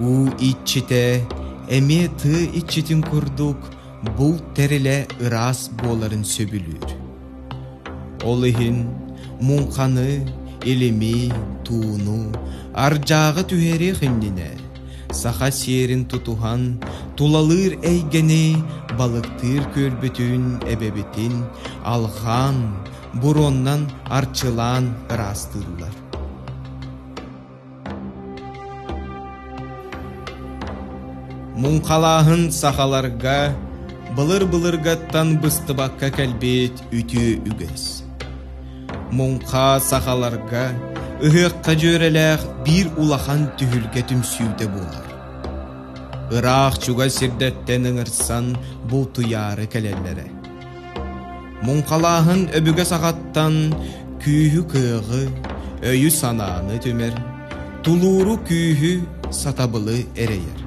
Уу иччитэ эмиэ тыы иччитин курдук булт тэрилэ ыраас буоларын сөбүлүүр. Ол иһин муҥханы, илими, тууну ардьааҕы түһэриэх иннинэ саха сиэрин тутуһан тулалыыр эйгэни балыктыыр күөлбүтүн эбэбитин алҕаан буруоннан арчылаан ыраастыыллар. Муҥхалааһын сахаларга былыр-былыргаттан быстыбакка кэлбит үтүө үгэс. Муҥха сахаларга ыһыахха дьүөрэлээх биир улахан түһүлгэ түмсүүтэ буолар. Ыраах чугас сирдэртэн ыҥырсан бултуйаары кэлэллэрэ. Муҥхалааһын өбүгэ саҕаттан күүһү-кыаҕы, өйү-санааны түмэр, тулууру күүһү, сатабылы эрэйэр.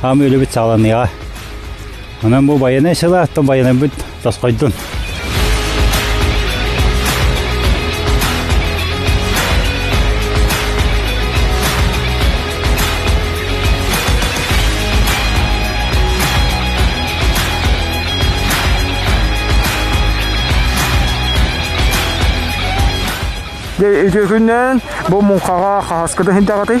Хаам өлөбүт сааланыаҕа. Онон бу байанай сыла, то байанайбыт тосхойдун. Итигүннэн бу муҥхаҕа хаһаскыда хинтэҕаты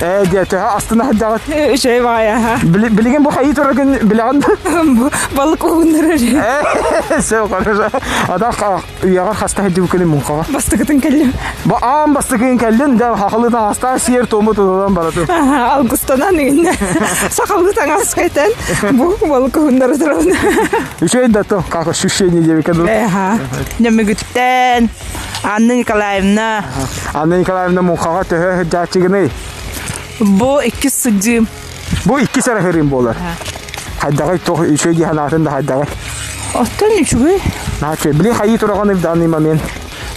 Ээ дьэ, төһө астына сылдьаҕыт? Үчэй баҕайа, аха. Билигин бу хайыы тураргын билэҕин да? Балык уһуннарар. Ээ, сөп, хорошо. Атах үйэҕэр хаста сылдьыбыт күнү муҥхаҕа? Бастакытын кэллим. Бу аан бастакытын кэллин, дьэ хахылыы таҥастаа, сиэр туому тутулан баратын. Алгустанан иннэ. Сахалыы таҥас кэтэн, бу балык уһуннары турабын. Үчэй да то, как ощущение, девка? Э, аха. Нөмүгүттэн. Анна Николаевна. Анна Николаевна муҥхаҕа төһө сылдьааччыгыный? Бу иккис сылдьыым. Бу иккис арыһырыым буолар. Хайдаҕый, туох үчүгэй дии санаатын да хайдаҕый? Оттон үчүгэй. Наачы, били хайыы тураҕын ырдааны момент.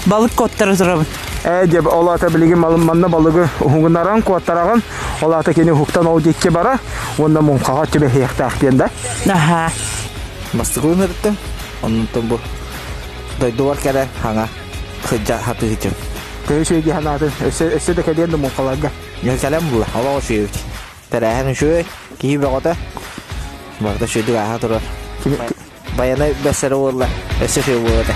Балык куоттара турабын. Ээ диэб, ол аата билигин малымманна балыгы уһугунаран куоттараҕын, ол аата кини уһуктан ол диэки бара, уонна муҥхаҕа түбэһиэхтээх диэн да? Аха. Мастык ылынарыттан, оннуттан бу дойдубар кэрэ хаҥа сыдьа сатыытын көрүсүөдүү санаатын өссө өссө да кэлиэн да муҥхаларга милкалем була олох үсүөбүт тэрээһин үсүөй киһи бөҕөтө барыта үсүөдүк ааһа турар байанай бэссэрэ буолла өссө үсүө буолата